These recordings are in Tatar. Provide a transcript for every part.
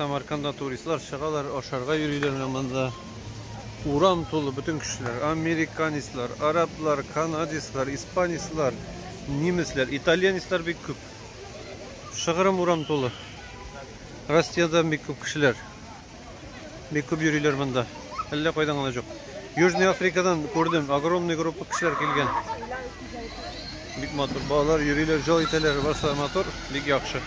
Самарканда туристлар чыгалар, ашарга йөриләр менә монда. Урам тулы бөтен кешеләр. Американецлар, араблар, канадецлар, испанецлар, немецлар, итальянецлар бик күп. Шыгырым урам тулы. Россиядән бик күп кешеләр. Бик күп йөриләр монда. Әллә кайдан гына юк. Южный Африкадан күрдем, огромный группа кешеләр килгән. Бик матур, балалар йөриләр, жол итәләр, барса матур, бик яхшы.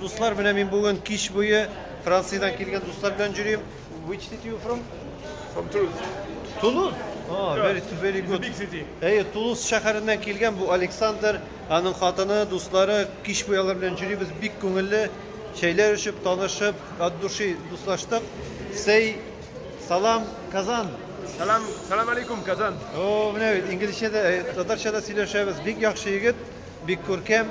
Дуслар, менә мин бүген кич буе Франциядән килгән дуслар белән йөрим. Which city you from? From Toulouse. Toulouse? Oh, very, very good. Big city. Әйе, Тулуз шәһәреннән килгән бу Александр, аның хатыны, дуслары, кич буе алар белән йөрибез, бик күңелле, чәйләр эчеп, танышып, от души дуслаштык. Сей, салам, Казан. Салам, салам алейкум, Казан. О, менә бит, инглизчә дә, э, татарча да сөйләшәбез. Бик яхшы егет, бик күркәм.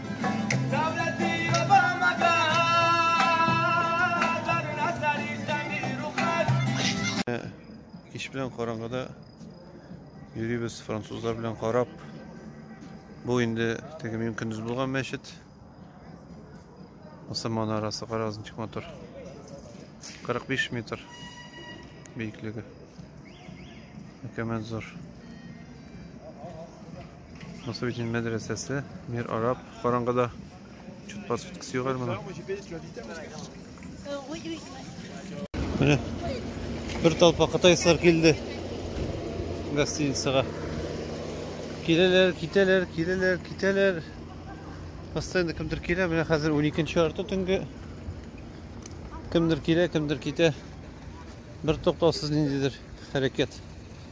Кич белән караңгыда йөрибез французлар белән карап. Бу инде теге мин көндез булган мәчет. Осман арасы карагыз ничек матур. 45 метр биеклеге. Мөкәммәл зур. Мосовичен мәдрәсәсе, мир араб, караңгыда чуть подсветкасы югар моның. Менә бер толпа кытайсызлар килде гостиницага. Киләләр, китәләр, киләләр, китәләр. Постоянно кемдер килә, менә хәзер 12 арты төнге. Кемдер килә, кемдер китә. Бер токтаусыз ниндидер хәрәкәт.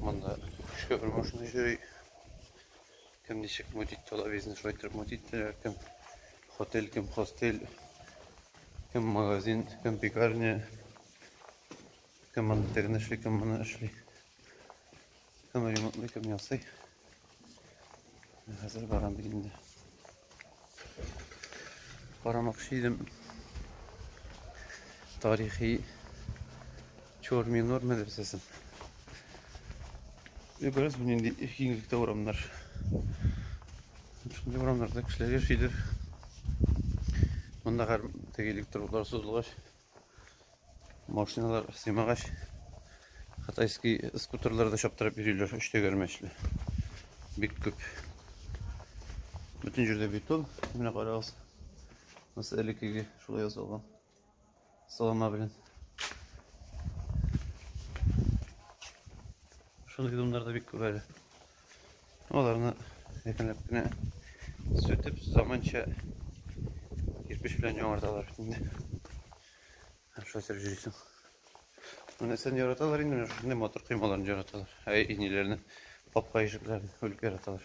Монда шофер машина йөри. Кем ничек мут итте, ала бизнес шулай итеп мут иттеләр. Кем хотель, кем хостель, кем магазин, кем пекарня, кем аны тегін эшли, кем мұны эшли. Кем ремонтлый, кем ясый. Хәзер барам бит инде. Карамакчы идем. Тарихи Чорминор мәдрәсәсен. Бераз бу нинди киңлектә урамнар. Шундый урамнарда кешеләр яшидер. Монда гар тегелек торулар сузылгач, Машиналар сыймагач, кытайский скутерлар да чаптырып йөриләр, өч тәгәрмәчле. Бик күп. Бөтен җирдә бетон. Менә карагыз. Нәрсә элеккеге шулай ясалган. Салама белән. Шундый бетоннар да бик күп әле. Аларны әкренләп кенә сүтеп, заманча кирпич белән яңарталар бит инде. Һәм шулай итеп җөйсең. Нәрсәне яраталар инде, шундый матур коймаларны яраталар. Ә иниләрне, капка ишекләрен үлеп яраталар.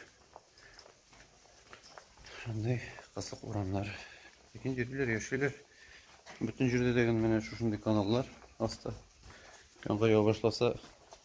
Шундый кызык урамнар. Ләкин йөриләр, яшиләр. Бөтен җирдә дә менә шушындый каналлар аста. Яңгыр ява башласа,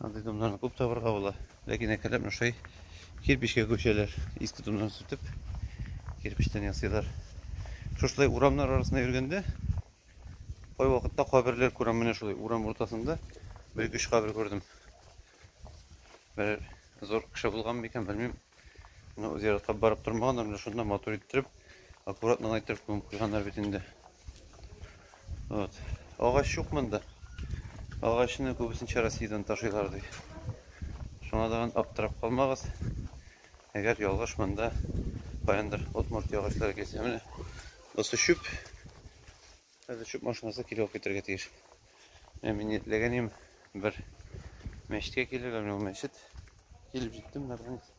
Андый томнарны күп табырга була. Ләкин әкренләп ношай кирпичкә күчәләр. Иске томнан сүтеп, кирпичтән ясыйлар. Шушылай урамнар арасында йөргәндә, кай вакытта каберләр күрәм, менә шулай урам уртасында бер өч кабер күрдем. Бер зур кеше булган микән, белмим. Менә зиратка барып тормаганнар, менә шунда матур иттереп, аккуратно гына иттереп күмеп куйганнар бит инде. Вот. Агач юк монда. Агачны күбесенчә Россиядән ташыйлар ди. Шуңа да аптырап калмагыз. Әгәр ялгыш монда каяндыр Удмуртия агачлары килсә, менә бусы чүп. Хәзер чүп машинасы килеп алып китәргә тиеш. Менә мин ниятлагән идем бер мәчеткә килергә, менә ул мәчет. Килеп җиттем, наконец.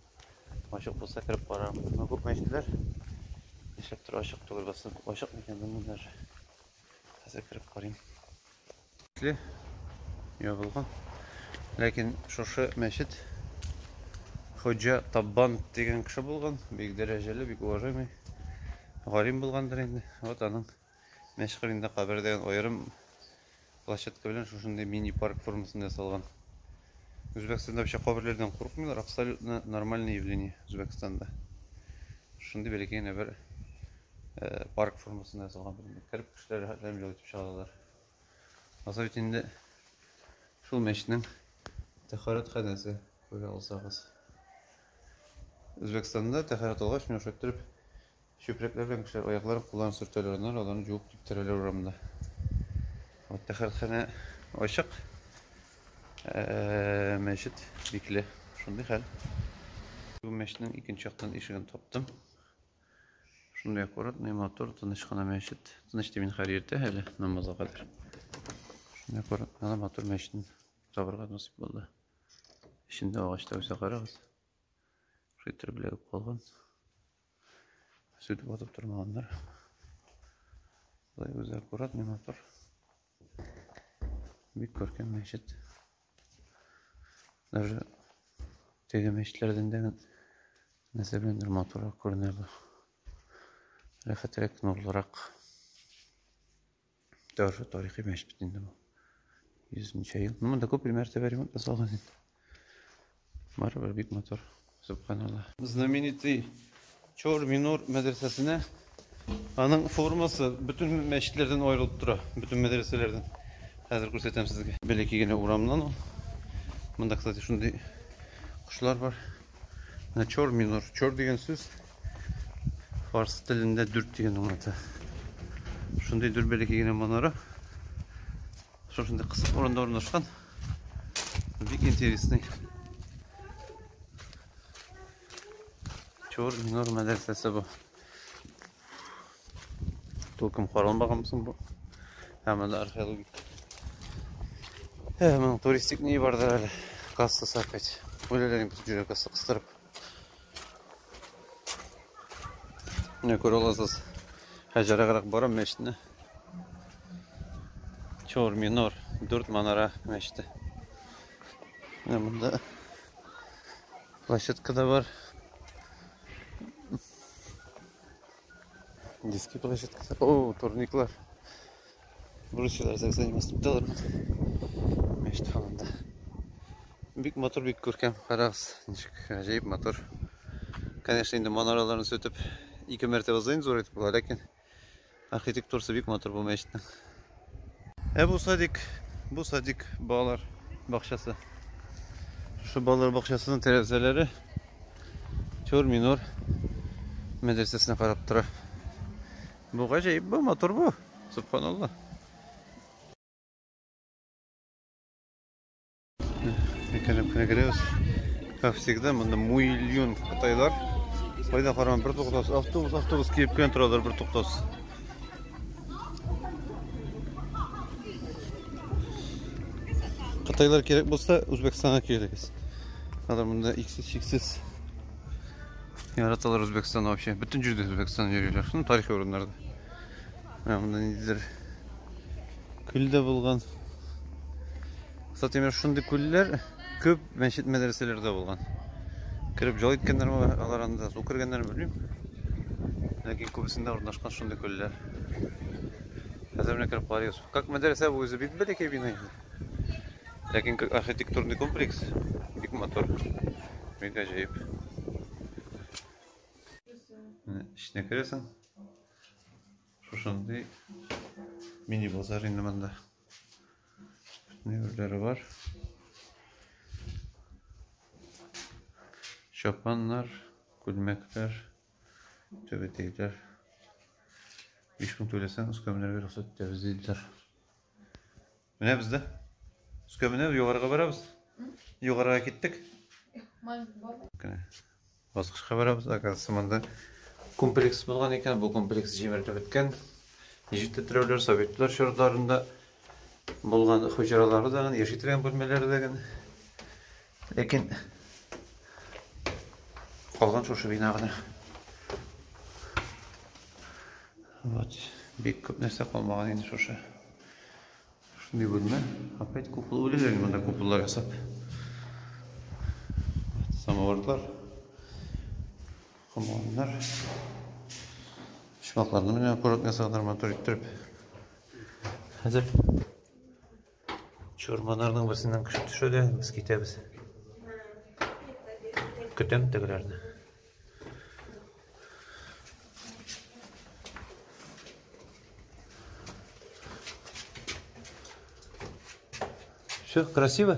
Ачык булса кереп карарым. Менә күп мәчетләр нишләптер ачык түгел, басып ачык микән белмим даже. Хәзер кереп карыйм. Ябылган. Ләкин шушы мәчет Хоҗа Таббан дигән кеше булган, бик дәрәҗәле, бик уважаемый галим булгандыр инде. Вот аның мәшгырендә кабер дигән аерым площадка белән шушындый мини-парк формасында ясалган. Үзбәкстанда вообще каберләрдән курыкмыйлар, абсолютно нормальное явление Үзбәкстанда. Шундый бәләкәй генә бер парк формасында ясалган. Кереп кешеләр рәхәтләнеп ял итеп чыгалар. Азыр бит инде шул мәчетнең тәхарәт хәнәсе күрә алсагыз. Үзбәкстанда тәхарәт алгач, менә шулай торып чүпрәкләр белән кешеләр аякларын, кулларын сөртәләр, аннары аларны җуып киптерәләр урамда. Вот тәхарәтханә ачык. Э, мәчет бикле. Шундый хәл. Бу мәчетнең икенче яктан ишеген таптым. Шундый аккуратный, матур, тыныч кына мәчет. Тыныч дип мин хәзер иртә әле намазга кадәр. Шундый аккуратный гына матур мәчетне табырга насыйп булды. Эчендә агачлар үсә карагыз. Шитер белән калган. Сүтеп атып тормаганнар. Болай үзе аккуратный, матур. Бик күркәм мәчет. Даже теге мәчетләрдән дә нәрсә беләндер матуррак күренә бу. Рәхәтрәк, нурлырак. Даже тарихи мәчет бит инде бу. Йөзенчә ел. Ну, монда күп мәртәбә ремонт ясалган инде. Барыбер бик матур. Субханалла. Знаменитый Чор Минор мәдрәсәсенә аның формасы бөтен мәчетләрдән аерылып тора, бөтен мәдрәсәләрдән. Хәзер күрсәтәм сезгә. Бәләкәй генә урамнан ул. Монда, кстати, шундый кошлар бар. Менә Чор Минор. Чор дигән сүз фарс телендә дүрт дигән аңлата. Шундый дүрт бәләкәй генә манара. Шушындый кысык урында урнашкан. Бик интересный. Чор минор мәдрәсәсе бу. Тулкым каралмаган соң бу. Һәм анда археологик. Һәм туристик ни бардыр әле. Кассасы опять. Үлеләрен бит кассасы кыстырып. Менә күрә аласыз. Хәҗәрәгәрәк бара мәчетне. Чор минор, дүрт манара мәчете. Менә монда площадка да бар. Детские площадки. О, турниклар. Грузчылар заниматься итәләр. Мәчет халында. Бик мотор, бик күркәм. Карагыз, ничек гаҗәеп мотор. Конечно, инде манараларны сүтеп, ике мәртәбә зыйн зур итеп була, ләкин архитектурасы бик мотор бу мәчетнең. Ә бу садик, бу садик балалар бакчасы. Шушы балалар бакчасының тәрәзәләре Чор минор мәдрәсәсенә карап тора. Бу гаҗәеп бу, матур бу. Субханаллах. Мекәнем кенә керәбез. Как всегда, монда миллион кытайлар. Кайда караган бер туктас, автобус, автобус килеп кенә торалар бер туктас. Кытайлар кирәк булса, Үзбәкстанга килегез. Алар монда иксез чиксез яраталар Үзбәкстанны вообще. Бөтен җирдә Үзбәкстан йөриләр. Шуны тарихи урыннарда. Менә монда ниндидер күл дә булган. Кстати, менә шундый күлләр күп мәчет мәдрәсәләрдә булган. Кереп җал иткәннәр бар, алар анда су кергәннәр, белмим. Ләкин күбесендә урнашкан шундый күлләр. Хәзер менә кереп карыйбыз. Как мәдрәсә бу үзе бик бәләкәй бина инде. Ләкин как архитектурный комплекс бик матур. Бик гаҗәеп. Менә эченә керәсең. Шушындый мини базар инде монда. Нәверләре бар. Чапаннар, күлмәкләр, төбетейләр. 5 мең түләсәң, үскәмнәргә рөхсәт итәбез диделәр. Менә без дә. Өскә менә югарыга барабыз. Югарыга киттек. Кенә. Баскычка барабыз. Оказывается, монда комплекс булган икән. Бу комплекс җимерелеп беткән. Ничек тә терәүләр советлар чорларында булган хуҗаралары да, яши торган бүлмәләре дә. Ләкин калган шушы бина гына. Вот, бик күп нәрсә калмаган инде шушы. Шундый бүлмә. Опять купол үлелер монда куполлар ясап. Самоварлар. Командар. Шмакларны менә аккуратно ясаганнар матур иттереп. Хәзер Чурманарның берсеннән кеше төшә дә, без китәбез. Көтәм тегеләрне. Все, красиво?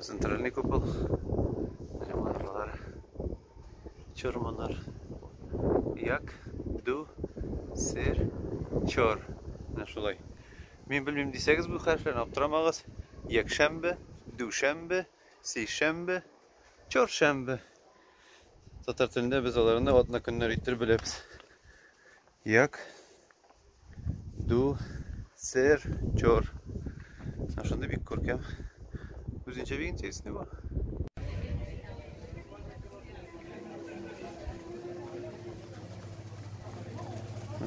Центральный купол. Ремонтлар. Чорманар. Як, ду, сер, чор. Менә шулай. Мин белмим дисәгез бу хәрефләрне аптырамагыз. Якшәмбе, дүшәмбе, сейшәмбе, чоршәмбе. Татар телендә без аларны атна көннәр иттереп беләбез. Як ду сер чор. Менә шундый бик күркәм. Үзенчә бик интересный бу.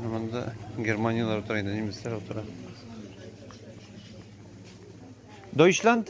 Монда германияләр утыра инде, немецләр утыра. Deutschland?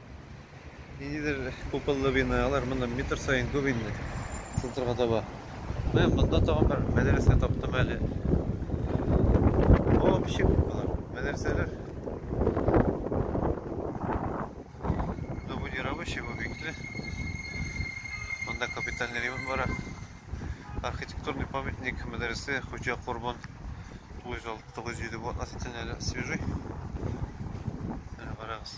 Ниндидер куполлы биналар монда метр сайын күп инде центрга таба. Менә монда тагын бер мәдрәсә таптым әле. О, ничек күп болар, мәдрәсәләр. Монда бу не рабочий, бу бикле. Монда капитальный ремонт бара. Архитектурный памятник мәдрәсә Хуҗа Корбан 906-907 бу относительно әле свежий. Әле барагыз,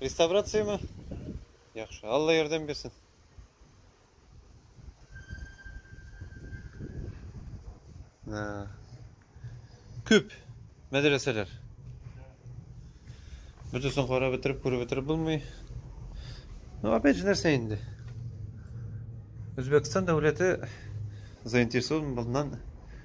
Реставрация ме? Яхшы. Алла ярдәм бирсен. Күп мәдрәсәләр. Бөтесен карап бетереп, күреп бетереп булмый. Ну, опять же нәрсә инде? Үзбәкстан дәүләте заинтересован булган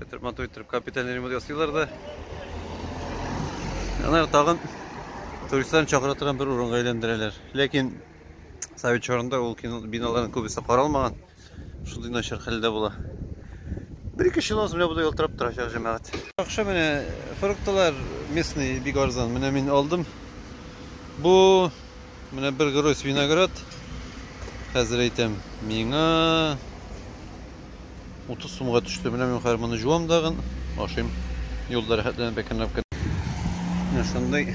Итеп матур итеп капиталь ремонт ясыйлар да. Алар тагын туристларны чакыра торган бер урынга әйләндерәләр. Ләкин совет чорында ул биналарның күбесе каралмаган. Шундый начар хәлдә була. Бер-ике ел аз менә буда ялтырап торачак җәмәгать. Акча менә фруктлар местный бик арзан. Менә мин алдым. Бу менә бер гроз виноград. Хәзер әйтәм. Миңа 30 сумга төште. Менә мин хәзер моны җуам дагын, ашыйм. Юлда рәхәтләнеп әкренләп кенә. Менә шундый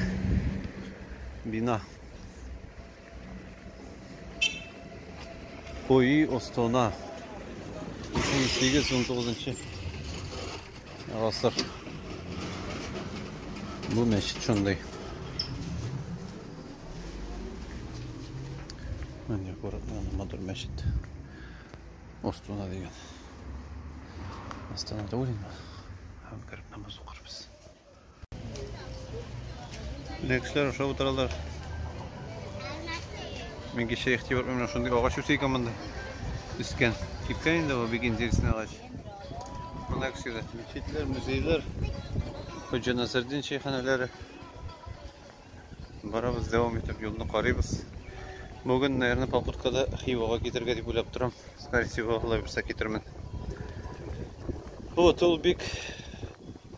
бина. Куи остона. 18-19 гасыр. Бу мәчет шундый. Менә күрәк, менә матур мәчет. Астана дигән. Астана түгел инде. Һәм кереп намаз укырбыз. Лексләр аша утыралар. Мин кеше ихтибар менә шундый агач үсә икән монда. Үскән. Кипкән инде бу бик интересный агач. Монда кешеләр, мечетләр, музейлар. Хоҗа Насырдин шәйханәләре. Барабыз, дәвам итеп юлны карыйбыз. Бүген, наверное, попыткада Хивага китергә дип уйлап торам. Скорее всего, алла бирсә китермен. Вот, ул бик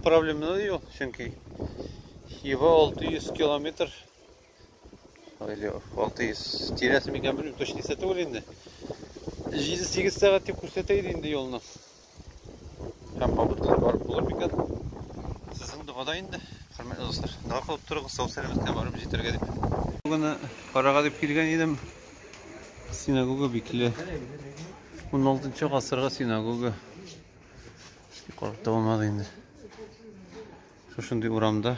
проблемалы юл, чөнки Хива 600 километр или 600 тирәсе микән белмим, точно исәтү инде. 7-8 сәгать дип күрсәтә иде инде юлны. Һәм кабул итүләр барып булыр микән? Сезнең догада инде, хөрмәтле дуслар. Дога кылып торыгыз, сау-сәламәткә барып җитәргә дип. Бүген карага дип килгән идем. Синагога бикле. 16 гасырга синагога. Карап та булмады инде. Шушындый урамда.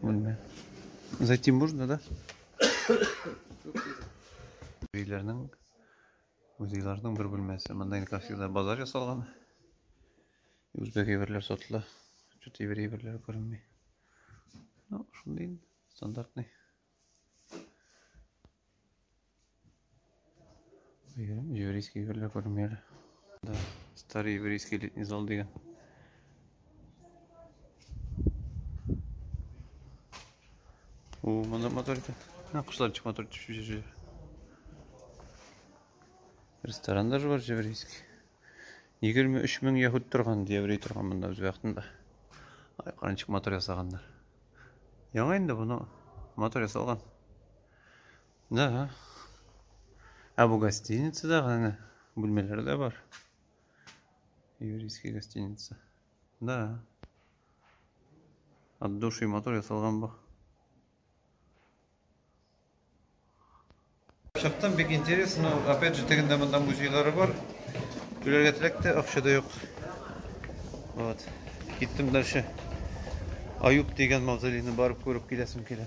Бүлмә. Зайти можно, да? Өйләрнең музейларның бер бүлмәсе. Монда инде как всегда базар ясалган. Үзбәк әйберләр сатыла. Чөт әйбер әйберләр күренми. Ну, шундый стандартный. еврейский герле күрмәле да старый еврейский летний зал дигән у моны мотор итә мына кошлар чык мотор төшүче ресторан даже бар еврейский егерме үч мең яһүд торган еврей торган монда үз вакытында ай каранчык мотор ясаганнар яңа инде буны мотор ясалган Да. А бу гостиница да гана. Бүлмәләр дә бар. Еврейский гостиница. Да. От души мотор ясалган бу. Чыктым, бик интересно. Опять же, тегендә монда музейлары бар. Түләргә теләк тә, акча да юк. Вот. Киттем дальше. Аюп дигән мавзолейны барып күреп киләсем килә.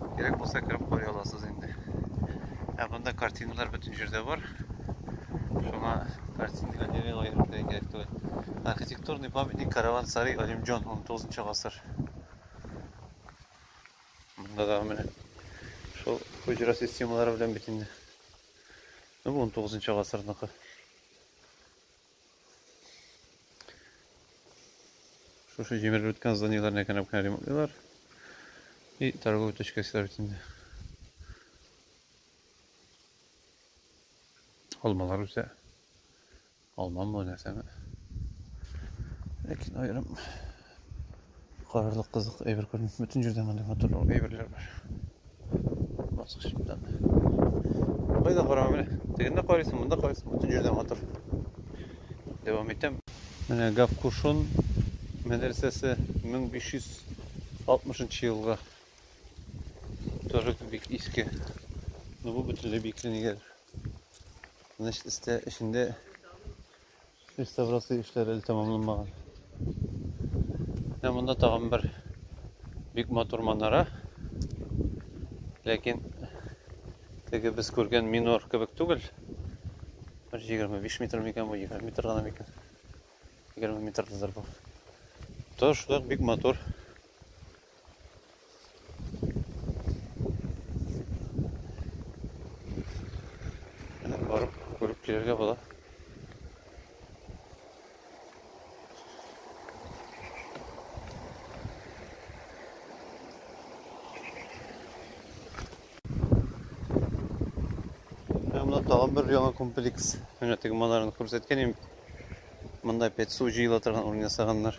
Кирәк булса кереп карый аласыз инде. Ә монда картиналар бөтен җирдә бар. Шуңа картина галерея аерым кирәк кирәк түгел. Архитектурный памятник Караван Сарай Алимджон 19 гасыр. Монда да менә шул хуҗра системалары белән бит инде. Ну, 19 гасырныкы. Шушы җимерелеп беткән зданиеләрне генә генә ремонтлыйлар. И торговый точка силар бит инде. Алмалар үсә. Алмамы, нәрсәме? Ләкин аерым Карарлык кызык әйбер күрми. Бөтен җирдә мондый матур әйберләр бар. Баскычтан. Кайда карама менә. Тегендә карыйсың, монда карыйсың, бөтен җирдә матур. Дәвам итәм. Менә Гавкушон мәдрәсәсе 1560 елга торып бик иске. Ну бу бөтенләй бикле нигәдер. Значит, истә эчендә Реставрация эшләре әле тәмамланмаган. Менә монда тагын бер бик матур манара. Ләкин теге без күргән минор кебек түгел. Бер 25 метр микән бу, 20 метр гына микән? 20 метрдыр бу. Тышлык бик матур. барып күреп килергә була. Мына тагын бер яңа комплекс. Менә теге манараны күрсәткән идем. Монда пет су җыела торган урын ясаганнар.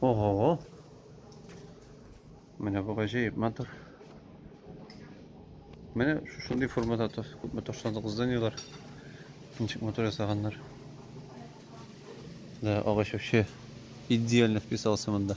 Ого! Менә бу гаҗәеп матур. Менә шушындый формада күпме ташландык зданиелар. Ничек матур ясаганнар. Да, агач вообще идеально вписался монда.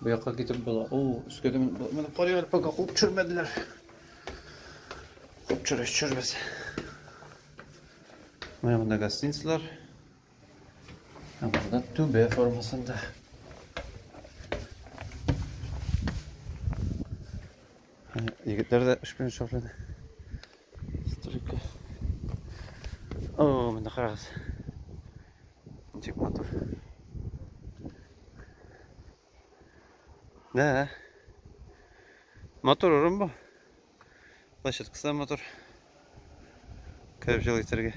Бу якка китеп була. О, өскә дә менеп карый әле пока куып төшермәделәр. Куып төшерә төшермәс. Менә монда гостиницалар. Ә монда түбә формасында. Егетләр дә эш белән шөгыльләнә. Стройка. О, монда карагыз. Ничек матур. Да. Матур урын бу. Площадкасы да матур. Кереп җылы итәргә.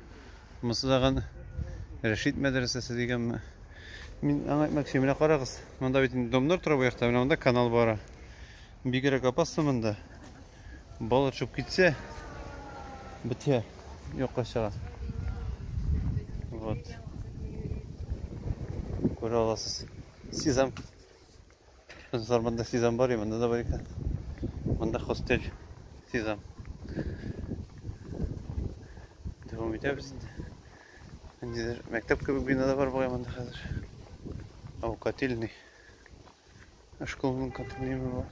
Монысы тагын Рәшит мәдрәсәсе дигәнме? Мин аңа әйтмәк өчен, менә карагыз, монда бит домнар тора бу якта, менә монда канал бара. Бигрәк опасно монда. Бала төшеп китсә, бетә, юкка чыга. Вот. Күрә аласыз. Сезам. Кызлар монда сезам бар, монда да бар икән. Монда хостель сезам. Дәвам итәбез инде. Ниндидер мәктәп кебек бина да бар бугай монда хәзер. Ау котельный. Школның контейнеры бар.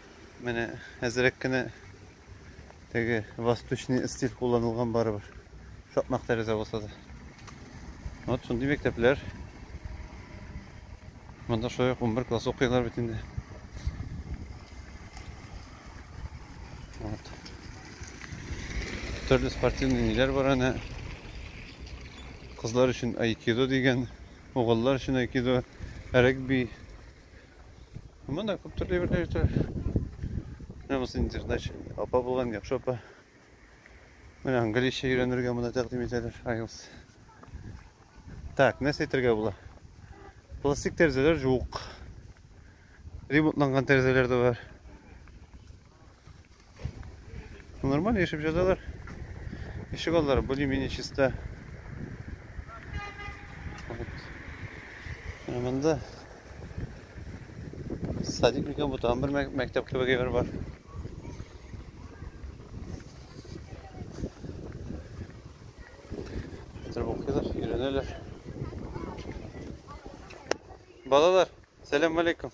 Менә әзрәк кенә теге восточный стиль кулланылган барыбер. Шакмак тәрәзә булса да. Вот шундый мәктәпләр. Монда шулай 11 класс укыйлар бит инде. Вот. Төрле спортивный ниләр бар аны. Кызлар өчен айкидо дигән, угыллар өчен айкидо, регби, Монда күп төрле әйберләр җитә. Менә мосын интернет апа булган яхшы апа. Менә английча өйрәнергә монда тәкъдим итәләр IELTS. Так, нәрсә әйтергә була? Пластик тәрәзәләр юк. Ремонтланган тәрәзәләр дә бар. Нормально яшәп җадалар. Ишек аллары более-менее чиста. Монда садик микән бу тагын бер мәктәп кебек әйбер бар. Хәзер укыйлар, өйрәнәләр. Балалар, сәлам алейкум.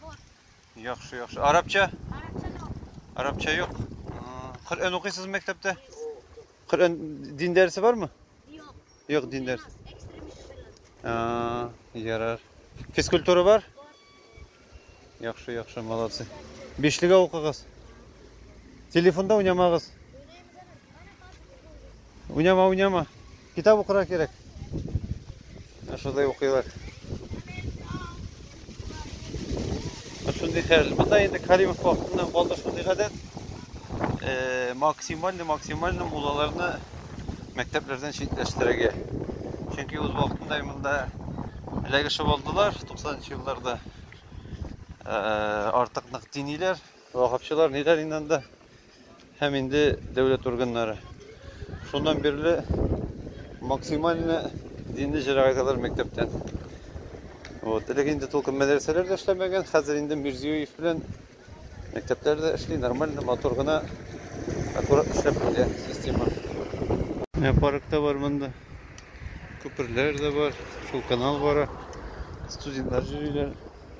Бар. Яхшы, яхшы. Арабча? Арабча юк. Арабча юк. Коръән укыйсыз мәктәптә? Коръән дин дәресе бармы? Юк. Юк, дин дәресе. Ярар. Физкультура бар? Яхшы, яхшы, молодцы. Бишлегә укыгыз. Телефонда уйнамагыз. Уйнама, уйнама. Китап укырга кирәк. Шундай укыйлар. Шундый хәл. Монда инде Каримов вакытыннан калды шундый гадәт. Э, максимально максимально мулаларны мәктәпләрдән читләштерергә. Чөнки үз вакытында монда эләгешеп алдылар 90 елларда. Э, артык нык диниләр, ваһапчылар ниләр инде Һәм инде дәүләт органнары. Шуннан бирле максимально динле җәрәгатьләр мәктәптән. Вот, элек инде толкын мәдрәсәләр дә эшләмәгән, хәзер инде Мирзиёев белән мәктәпләр дә эшли, нормально, матур гына, аккурат эшләп килә система. Менә парк та бар монда. Күперләр дә бар, шул канал бара. Студентлар йөриләр.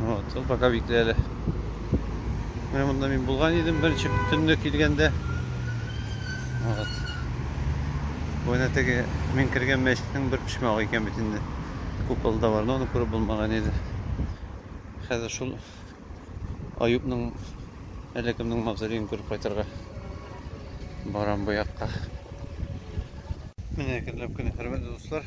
Вот, ул пока бик әле. Менә монда мин булган идем беренче төнне килгәндә. Вот. Бу әнә теге мин кергән мәчетнең бер почмагы икән бит инде. Купол да бар, но аны күреп булмаган иде. Хәзер шул Аюпның әллә кемнең мавзолеен күреп кайтырга барам бу якка. Менә әкренләп кенә, хөрмәтле дуслар,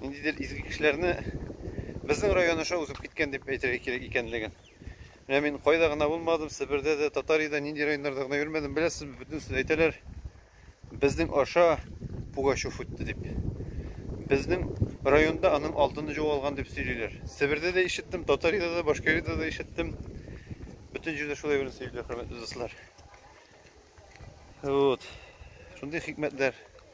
ниндидер изге кешеләрне безнең район аша узып киткән дип әйтергә кирәк икәнлеген. Менә мин кайда гына булмадым, Себердә дә, Татариядә нинди районнарда гына йөрмәдем, беләсез, бөтен сүз әйтәләр. Безнең аша Пугачев үтте дип. Безнең районда аның алтыны югалган дип сөйлиләр. Себердә дә ишеттем, Татариядә дә, Башкириядә дә ишеттем. Бөтен җирдә шулай гына сөйлиләр, хөрмәтле дуслар. Вот. Шундый хикмәтләр.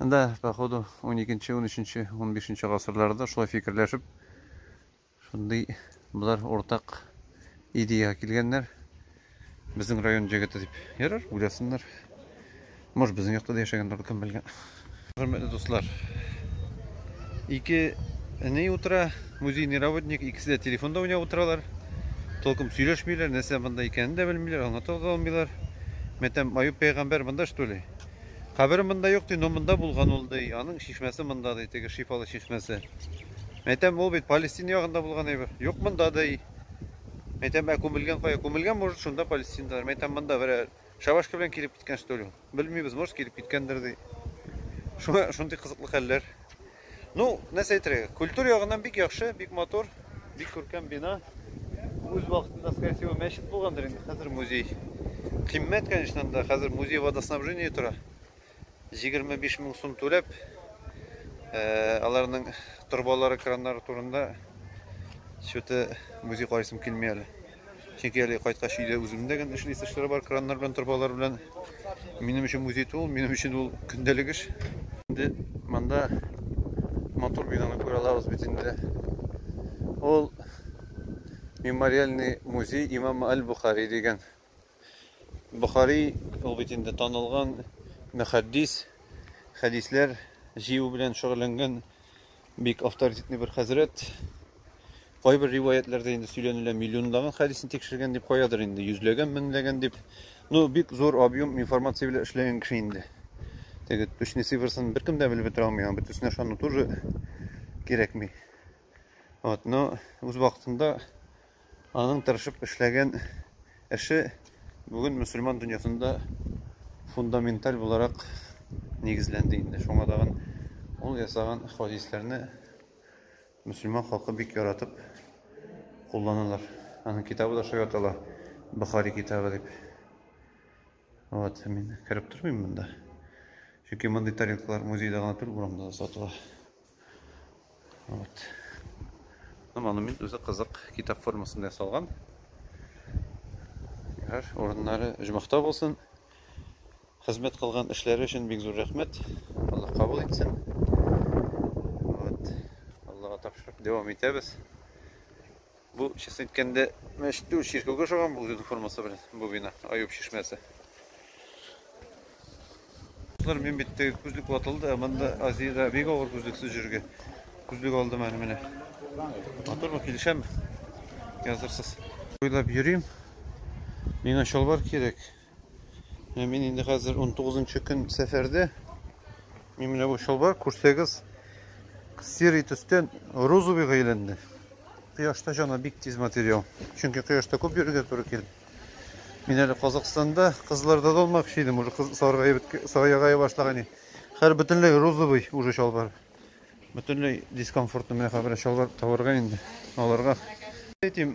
Да, походу 12-нче, 13-нче, 15-нче гасырларда шулай фикерләшеп шундый болар уртак идеяга килгәннәр. Безнең район җегете дип. Ярар, уйласыннар. Может, безнең якта да яшәгәндер, кем белгән. Хөрмәтле дуслар. Ике ни утыра, Музейный работник, икесе дә телефонда уйнап утыралар. Толком сөйләшмиләр, нәрсә монда икәнен дә белмиләр, аңлата да алмыйлар. Мәтәм Аюп пәйгамбәр монда что ли? Кабере монда юк ди, но монда булган ул ди. Аның чишмәсе монда ди, теге шифалы чишмәсе. Мәтәм ул бит Палестин ягында булган әйбер. Юк монда ди. Мәтәм ә күмелгән кая? Күмелгән может шунда Палестиндалар. Мәтәм монда берәр Шабашка белән килеп киткән что ли? Белмибез, может килеп киткәндер ди. Шуңа шундый кызыклы хәлләр. Ну, нәрсә әйтергә? Культура ягыннан бик яхшы, бик матур, бик күркәм бина. Үз вакытында, скорее всего, мәчет булгандыр инде, хәзер музей. Кыйммәт, конечно, да, хәзер музей водоснабжение тора. 25 мең сум түләп, аларның торбалары, краннары турында счеты музей карыйсым килми әле. Чөнки әле кайткач өйдә үземдә генә эшли эшләре бар, краннар белән, торбалар белән. Минем өчен музей түгел, минем өчен ул көндәлек эш. Инде монда матур бинаны күрә алабыз бит инде. Ул мемориальный музей имама Аль-Бухари дигән Бохари ул бит инде танылган мөхәддис, хәдисләр җыю белән шөгыльләнгән бик авторитетный бер хәзрәт. Кайбер риваятләрдә инде сөйләнелә миллионлаган хәдисне тикшергән дип, каядыр инде йөзләгән, меңләгән дип. Ну, бик зур объем информация белән эшләгән кеше инде. Теге точный цифрсын беркем дә белеп бетерә алмый, аңа бөтенесенә ышану тоже кирәкми. Вот, но үз вакытында Аның тырышып эшләгән эше бүген мөселман дөньясында фундаменталь буларак нигезләнде инде. Шуңа тагын ул ясаган хадисләрне мөселман халкы бик яратып кулланалар. Аның китабы да шулай атала, Бухари китабы дип. Вот, мин кереп тормыйм монда. Чөнки мондый тарелкалар музейда гына түгел, урамда да сатыла. Вот. Ну, монумент үзе кызык, китап формасында ясалган. Ярар, урыннары җмахта булсын. Хезмәт кылган эшләре өчен бик зур рәхмәт. Алла кабул итсен. Вот. Аллага тапшырып дәвам итәбез. Бу, честно әйткәндә, мәчет түгел, чиркәүгә ошаган бу үзенең формасы белән, бу бина, Аюп чишмәсе. Кызлар, мин бит теге күзлек ватылды, ә монда Азиядә бик авыр күзлексез йөрергә. Күзлек алдым әле менә. Матурмы, килешәме? Язырсыз. Уйлап йөрим. Миңа чалбар кирәк. Мин инде хәзер 19 көн сәфәрдә. Мин менә бу чалбар күрсәгез серый төстән розовыйга әйләнде. Кояшта жана бик тиз материал. Чөнки кояшта күп йөрергә туры килде. Мин әле Казахстанда кызларда да алмакчы идем, уже кыз саргая башлаган. Хәр бөтенләй розовый уже чалбар. Бөтенләй дискомфортны менә хәбәр чалбар табарга инде аларга. Әйтим,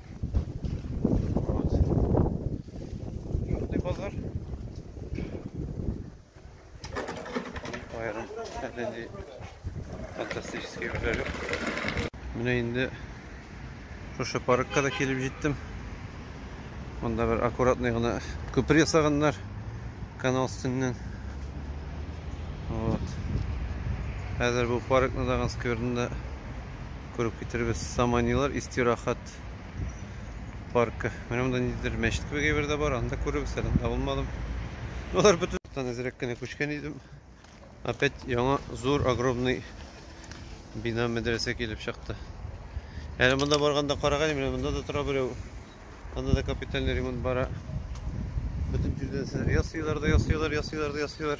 Әдәнди фантастический берләлек. Менә инде шушы паркка да килеп җиттем. Монда бер аккуратный гына күпер ясаганнар канал өстеннән. Вот. Хәзер бу паркны да скверны да күреп китербез. Саманилар истирахат паркы. Менә монда ниндидер мәчет кебек әйбер дә бар. Анда күребез, әле анда булмадым. Алар бөтен әзрәк кенә күчкән идем. Опять яңа зур огромный бина мәдрәсә килеп чыкты. Әле монда барганда караган, менә монда да тора берәү. Анда да капитальный ремонт бара. Бөтен җирдән ясыйлар да ясыйлар, ясыйлар да ясыйлар.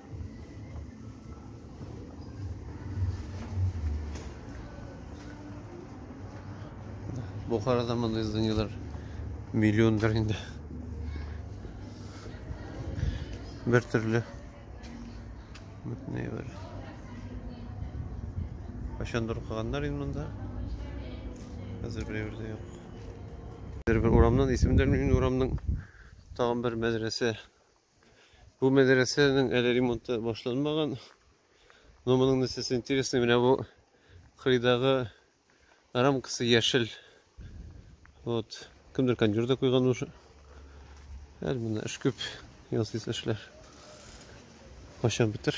Бухарада мындай зданиелар миллиондыр инде. Бер төрле. Бөтенләй бер. Кайчандыр укыганнар инде монда. Хәзер берәүдә юк. Бер бер урамнан исемдә мин урамның тагын бер мәдрәсә Бу мәдрәсәнең әле ремонты башланмаган. Но моның нәрсәсе интересный, менә бу кырыйдагы рамкасы яшел. Вот, кемдер кондер да куйган уже. Әле менә эш күп, ясыйсы эшләр. Качан бетер?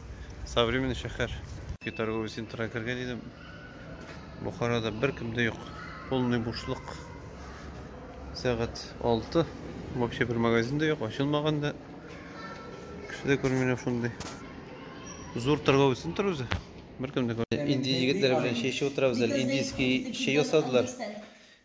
Современный шәһәр. Торговый центрга кергән идем. Бухарада беркем дә юк. Полный бушлык. Сәгать 6. Вообще бер магазин дә юк, ачылмаган да. Кеше дә күрмиләр шундый. Зур торговый центр үзе. Беркем дә күрмиләр. Инди егетләр белән чәй эчеп утырабыз әле. Индийский чәй ясадылар.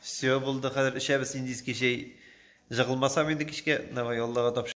Все булды хәзер эчәбез индийский чәй. Җыгылмасам инде кичкә. Давай Аллага тапшырыйк.